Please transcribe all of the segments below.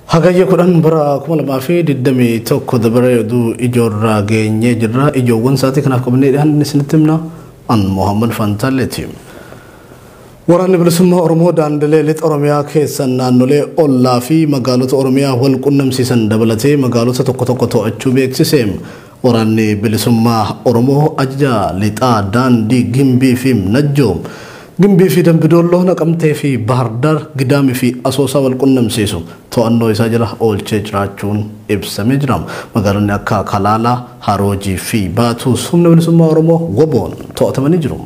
Hagayya kudhan bara 2021 dabaree oduu ijoorraa geenyee jirra. Ijoowwan isaatii kanaaf qabannee dhiyaanne isinitti himna. An Mohaammed Fantaalleeti. Waraanni bilisummaa Oromoo daandilee lixa Oromiyaa keessa naannolee ollaa fi magaalota Oromiyaa wal qunnamsiisan dabalatee magaalota tokko tokko to'achuu beeksise. Waraanni Bilisummaa Oromoo Ajaja Lixaa Daandii Gimbii fi Najjoo, Gimbii fi Dambi Doolloo, Naqamtee fi Bahar Dar, Gidaamii fi Asoosaa wal qunnamsiisu to'annoo isaa jala oolchee jiraachuun ibsamee jira. Magaalonni akka Kalaalaa, Haroojii fi Baatuus humna bilisummaa Oromoo, WBOn, to'atamanii jiru.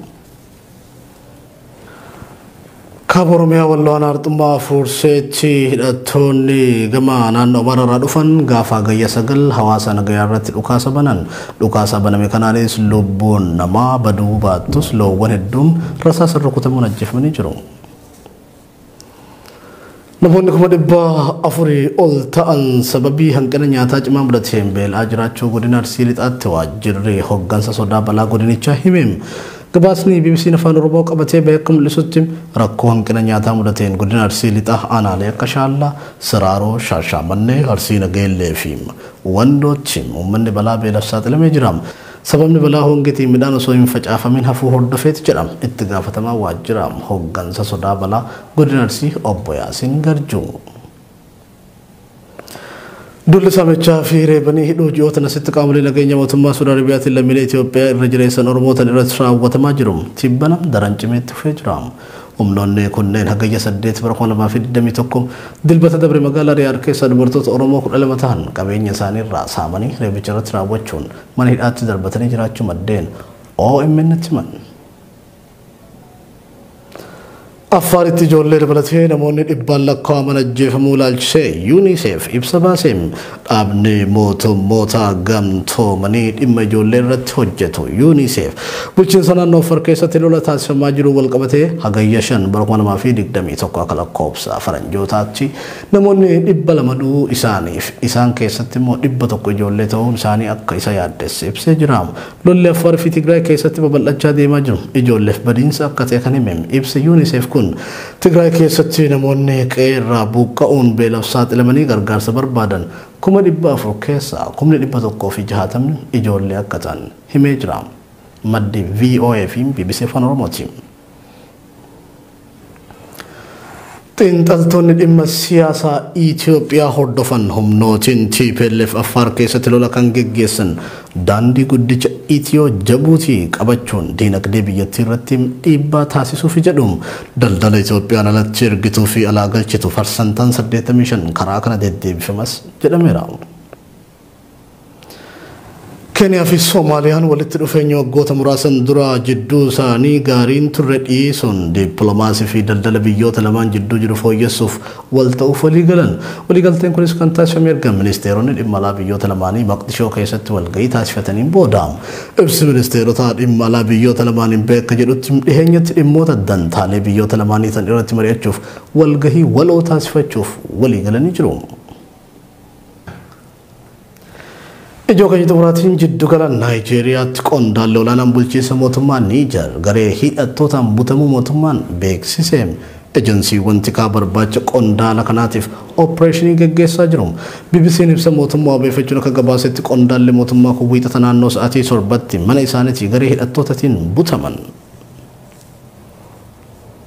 Kaaba Oromiyaa Walloo Aanaa Arxummaa Afuurseetti hidhattoonni gama naannoo Amaaraa irraa dhufan gaafa Hagayya sagal hawaasa nagayaa irratti dhukaasa banan. Dhukaasa baname kanaanis lubbuun namaa baduu baattus loowwan hedduun rasaasa rukutamuun ajjeefamanii jiru. Namoonni kuma dhibba afurii ol ta'an sababii hanqina nyaataa cimaa mudateen beela'aa jiraachuu godina Arsii Lixaatti waajjirri hoggansa sodaa balaa godinichaa hime. Gabaasni BBC'n Afaan Oromoo qabatee bahe akka mul'isutti rakkoo hanqina nyaataa mudateen godina Arsii Lixaa aanaalee akka Shaallaa, Siraaroo, Shaashaamannee, Arsii Nageellee fi Wandootti uummanni balaa beelaf saaxilamee jira. Sababni balaa hongetiin midhaan osoo hin facaafamiin hafuu hordofeeti jedha itti gaafatamaa waajjira hoggansa sodaa balaa godina Arsii obbo Yaasiin Garjuu. Duulli saamichaa fi reebanii hidhuu ji'ootan asitti qaamolee nageenya mootummaa Suud Arabiyaatiin lammiilee Itoophiyaa irra jireessan Oromootan irratti raawwatamaa jiru tibbana daran cimee itti fufee jira. Humnoonni kunneen Hagayya 8 bara 2021 Dilbata dabre magaalaa Riyaad keessaa dubartoota Oromoo 12 tahan qabeenya isaanii irraa saamanii reebicha irratti raawwachuun mana hidhaatti darbatanii jiraachuu maddeen OMNtti himan. Affaaritti ijoollee dabalatee namoonni dhibbaan lakkaa'aman ajjeefamuu ilaalchisee UNICEF ibsa baaseen dhaabni mootummoota gamtoomanii dhimma ijoollee irratti hojjetu UNICEF bulchiinsa naannoo Affaar keessatti lola taasifamaa jiru walqabatee hagayya 5 bara 2021 akka lakkoofsa faranjootaatti Namoonni 200 du'uu isaaniif isaan keessatti immoo 100 ijoollee ta'uun isaanii akka isa yaaddesse ibsee jira. Lolli Affaar fi Tigraay keessatti babal'achaa deemaa jiru ijoolleef badiinsa akka ta'e kan hime ibsi Unicef kun, Tigraay keessatti namoonni qe'ee irraa buuqqa'uun beelaf saaxilamanii gargaarsa barbaadan kuma 400 keessaa kumni 160 ijoollee akka ta'an himee jira. Maddi voa fi bbc Afaan Oromooti. Xiinxaltoonni dhimma siyaasaa Itoophiyaa hordofan humnootiin TPLF Affaar keessatti lola kan geggeessan daandii guddicha Itiyoo Jabuutii qabachuun diinagdee biyyattii irratti dhiibbaa taasisuufi jedhu. Daldala Itoophiyaan alatti ergituu fi alaa galchitu parsantaan 85 karaa kana deddeebifamas jedhameera. Keeniyaa fi Soomaaliyaan walitti dhufeenya waggoota muraasan dura jidduu isaanii gaariin turre dhiisuun dippiloomaasii fi daldala biyyoota lamaan jidduu jiru fooyyessuuf wal ta'uuf walii galan. Waliigalteen kunis kan taasifame erga ministeeronni dhimma alaa biyyoota lamaanii Maqdishoo keessatti walga'ii taasifataniin booda. Ibsi ministeerotaa dhimma alaa biyyoota lamaaniin ba'e akka jedhutti dhiheenyatti dhimmoota dantaalee biyyoota lamaanii ta'an irratti mari'achuuf walgahii waloo taasifachuuf walii galanii jiru. Ijoo keenya xumuraatiin jiddugala Naayijeeriyaatti qondaalli olaanaan bulchiinsa mootummaa Niijar garee hidhattootaan butamuu mootummaan beeksise. Ejensiiwwan tikaa barbaacha qondaala kanaatiif oppireeshinii gaggeessaa jiru. BBC'n ibsa mootummaa wabeeffachuun akka gabaasetti qondaalli mootummaa kun wiixata naannoo sa'aatii torbatti mana isaaniitii garee hidhattootatiin butaman.